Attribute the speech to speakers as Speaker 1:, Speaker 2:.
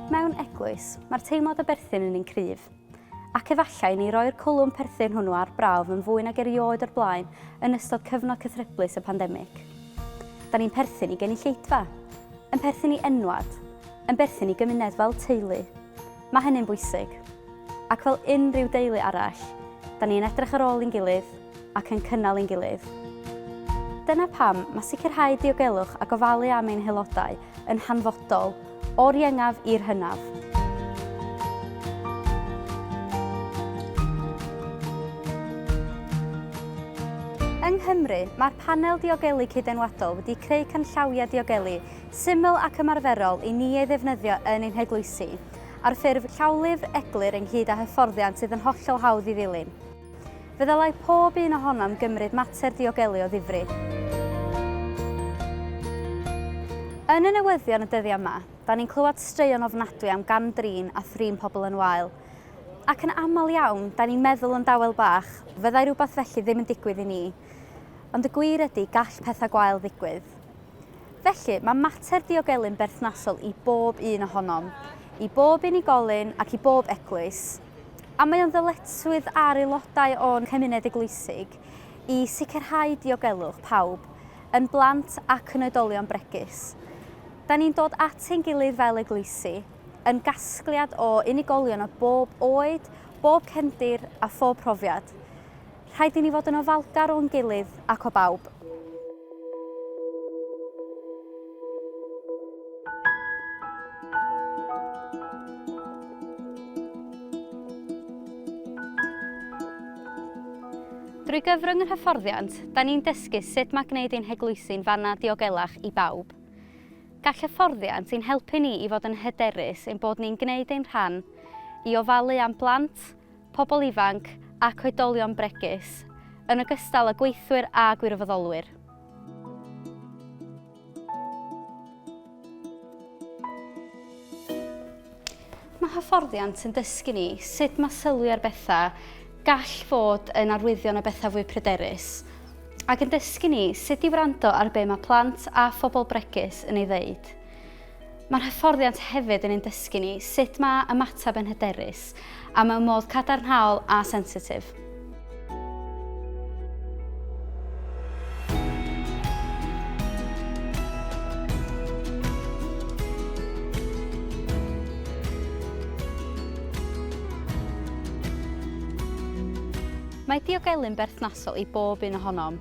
Speaker 1: Mewn eglwys, mae'r teimlad o berthyn yn un cryf. Ac efallai ni roi'r cwlwm perthyn hwnnw ar brawf yn fwy nag erioed o'r blaen yn ystod cyfnod cythryblus y pandemig. Da ni'n perthyn i genulleidfa, yn perthyn i enwad, yn berthyn i gymuned fel teulu. Mae hynny'n bwysig. Ac fel unrhyw deulu arall, da ni yn edrych ar ôl i'n gilydd ac yn cynnal i'n gilydd. Dyna pam mae sicrhau diogelwch a gofalu am ein haelodau yn hanfodol, o'r iengaf i'r hynaf. Yng Nghymru, mae'r Panel Diogelu Cyd-enwadol wedi creu canllawiau diogelu Syml ac ymarferol i ni ei ddefnyddio yn ein heglwysi, ar ffurf llawlyfr eglur ynghyd â hyfforddiant sydd yn hollol hawdd i ddilyn. Fe ddylai pob un ohonom gymryd mater diogelu o ddifri. Yn y newyddion y dyddiau yma, da ni'n clywed straeon ofnadwy am gam-drin a thrin pobl yn wael. Ac yn aml iawn, da ni'n meddwl yn dawel bach, fyddai rhywbeth felly ddim yn digwydd i ni. Ond y gwir ydy, gall pethau gwael ddigwydd. Felly, mae mater diogelu'n berthnasol i bob un ohonom, i bob unigolyn ac i bob eglwys, a mae o'n ddyletswydd ar aelodau o'n cymuned eglwysig i sicrhau diogelwch pawb, yn blant ac yn oedolion bregus. Da ni'n dod at ein gilydd fel eglwysi, yn gasgliad o unigolion o bob oed, bob cefndir a phob profiad. Rhaid i ni fod yn ofalgar o'n gilydd ac o bawb. Drwy gyfrwng yr hyfforddiant, da ni'n dysgu sut mae gwneud ein heglwysi'n fanna diogelach i bawb. Gall hyfforddiant ein helpu ni i fod yn hyderus ein bod ni'n gwneud ein rhan i ofalu am blant, pobl ifanc ac oedolion bregus, yn ogystal â gweithwyr a gwirfoddolwyr. Mae hyfforddiant yn dysgu ni sut mae sylwi ar bethau gall fod yn arwyddion o bethau fwy pryderus, ac yn dysgu ni sut i wrando ar be mae plant a phobl bregus yn ei ddeud. Mae'r hyfforddiant hefyd yn ein dysgu ni sut mae ymateb yn hyderus a mewn modd cadarnhaol a sensitif. Mae diogelu'n berthnasol i bob un ohonom.